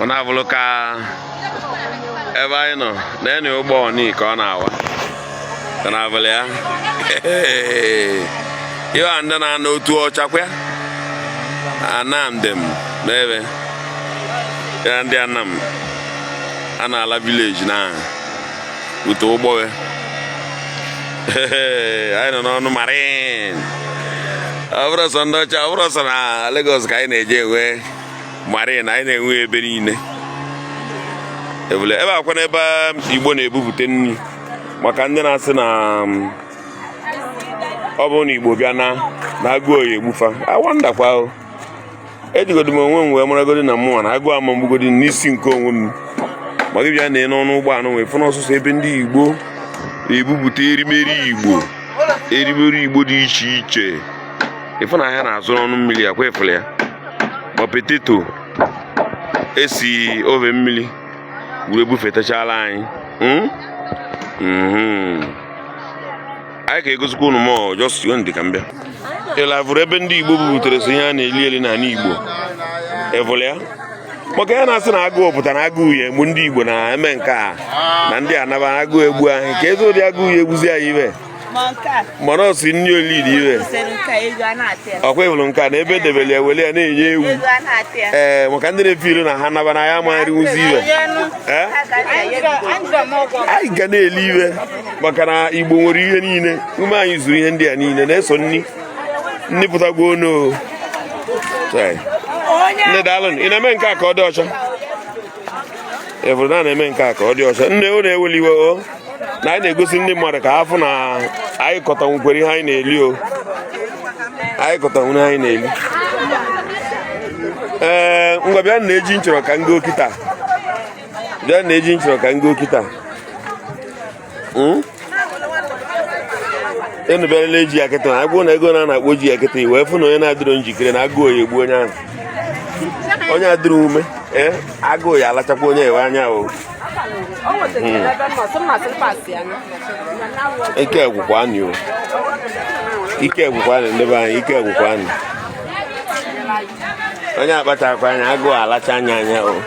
ọ na-abụrụ ka ebe anyị nọ na enu ụgbọ ọnị ka ọ na-awa ka na-abụrụ ya ihe a ndị na-anọ Otuocha kwa Anam dem n'ebe ya ndị Anam a na-ala village na ute ụgbọghe anyị nọ n'ọnụ marine abụrọ sọ ndị ọcha abụrọ sọ na Lagos ka anyị na-eje enwe marine anyị na-enwe ebe niile ebule ebe a kwa n'ebe um, Igbo na-ebubute nri maka ndị na-asị na um, ọ bụrụ na Igbo bịa naa na agụụ ya egbu fa awandakwa ejigodi m onwe m wee maragodi na mụnwa na agụụ ama m egbugodi n'isi nke onwe m ma gị bịa nee n'ọnụ ụgbọ anụ wee fụ na ọ sọsọ ebe ndị Igbo bubute erimeri Igbo erimeri Igbo dị iche iche ị fụ na ahịa na-azụ n'ọnụ mmiri ọ kwa ị fụlụ ya ma potato e si ove mmiri were bufetachala anyị hmm? Hmm. anyị ka egosikwa unu more just ndị ka m bịa ị na-avụrụ ebe ndị Igbo bubutere sọ ihe a na-eli eli n'ala Igbo ị vụlụ ya maka ya na-asị na agụụ pụtara agụụ ya egbu ndị Igbo na-eme nke a na ndị a naba agụụ egbu anyị keezi ụdị agụụ ya egbuzi anyị ibe mana ọ si nri olili ive ọ kwa ị hụrụ nke a na ebe e debere ya were ya na-enye ewu ee eh, maka ndị na-efe ilu na ha naba na anyị ama erinwuzi ive eh? anyị ga na-eli ive maka na Igbo nwere ihe niile ume anyị zuru ihe ndị a niile na-eso nni nni pụtagbuo onu nne daalụ ị na-eme nke a ka ọ dị ọcha ị hụrụ na a na-eme nke a ka ọ dị ọcha nne ọ na-eweli iwe o na anyị na-egosi ndị mmadụ ka a fụ na anyị kọtanwukwere ihe anyị na-eli o anyị kọtanwuru ihe anyị na-eli ee ngwa bịa nee ji m chọrọ ka m goo kịta bịa nee ji m chọrọ ka m goo kịta unu bịara lee ji a kịta a gwa unu ego one a na-akpọ ji a kịta i wee fụ na onye na-adịrọ njikere na agụụ ya egbu onye ahụ onye adịrọ ume ee agụụ ya alachakwa onye ahụ anya o ike agwụkwa anyị o ike agwụkwa anyị ndị be anyị ike agwụkwa anyị onye akpachakwa anya agụụ alacha ya anya o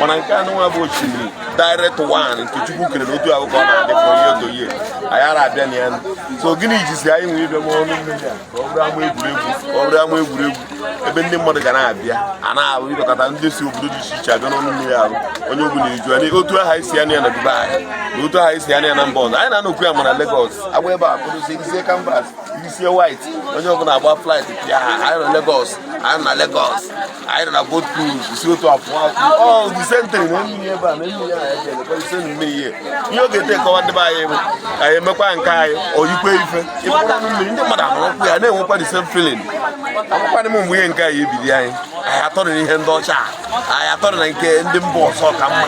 mana nke anụnwa bụ osimiri direct one nke chukwu kere n'otu ahụ ka ọ na-adị from year to year anyị ara abịa na ya so gịnị jizi anyị nwere ibe ọnụ mmiri a ka ọ bụrụ ama egwuregwu ọ bụrụ ama egwuregwu ebe ndị mmadụ ga na-abịa a na-ahụ ịdọkọta ndị si obodo dị iche iche abịa n'ọnụ mmiri ahụ onye ọbụla eju ya otu ahụ e si anụ ya na Dubai na otu ahụ e si anụ ya na mba ọzọ anyị na-anọkwu ya mana Lagos agba ebe a kpụrụ isi e yisie canvas e yisie white onye ọbụla agba flight pịa ha anyị nọ Lagos anyị nọ Lagos anyị nọ na boat cruise si otu afọ the same thing na mmiri ebe a na mmiri a anyị ga-elekwa ise na mmiri ihe ọ ga-ete kọwa ndị be anyị bụ anyị emekwa nke anyị oyikwe ife ị kpọrọ ọnụ mmiri ndị mmadụ ahụrụkwu ya na-enwekwa the same feeling akwụkwanị m mgbe ihe nke anyị ebido anyị anyị atọrọ na ihe ndị ọcha anyị atọrọ na nke ndị mba ọzọ ka mma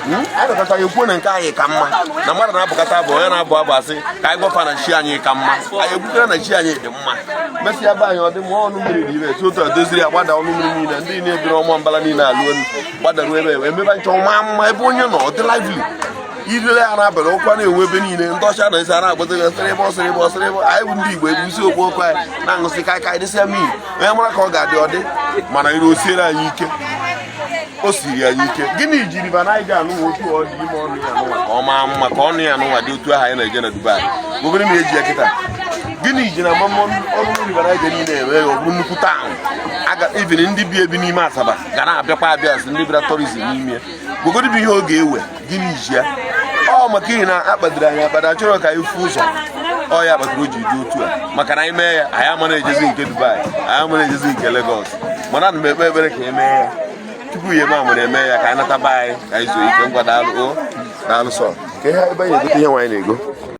Hmm? anyị nọkọta ya ekwuo na nke anyị ka mma na mmadụ na-abụkata abụ onye na-abụ abụ a sị ka anyị gwafa na chi anyị ka mma anyị ekwutere na chi anyị dị mma mesịa be anyị ọ dị mma ọnụ mmiri dị ire etu otu e doziri ya gbada ọnụ mmiri niile ndị niile biri ọma mbala niile alụ elu gbadaruo ebe ebe emebe nchọ ma mma ebe onye nọ ọ dị lively i lele ya n'abalị ọkụ a na-enwu ebe niile ndị ọcha na Asia na-agbazi gị sịrị ebe ọsịrị ebe ọsịrị ebe anyị bụ ndị Igbo ebu isi okwu okwu anyị na-aṅụsị kaikai dịsịa mmiri onye mara ka ọ ga-adị ọdị mana ire o siere anyị ike o siri anyị ike gịnị ji River Niger nụ otu ọ dị ime ọnụ ya nụwa ka ọ maa mma ka ọnụ ya nụwa dị otu ahụ anyị na-eje na Dubai obere na eji ya kịta gịnị ji na mama ọnụ River Niger niile eme ya ọ bụrụ nnukwu taụn even ndị bi ebi n'ime Asaba ga na-abịakwa abịa as ndị bịara tourism n'ime gogodi bụ ihe ọ ga-ewe gịnị ji ya ọ maka ihi na a kpadoro anyị akpado achọrọ ka anyị fụ ụzọ ọ ya kpatara o ji dị otu a maka na anyị mee ya anyị ama na-ejezi nke Dubai anyị ama na-ejezi nke Lagos mana ana m ekpe ekpere ka e mee ya tupu ya eme amụrụ eme ya ka anyị nata be anyị ka anyị zuo ike ngwa daalụ o daalụ so ka ihe ebe anyị na-egote ihe nwaanyị na-ego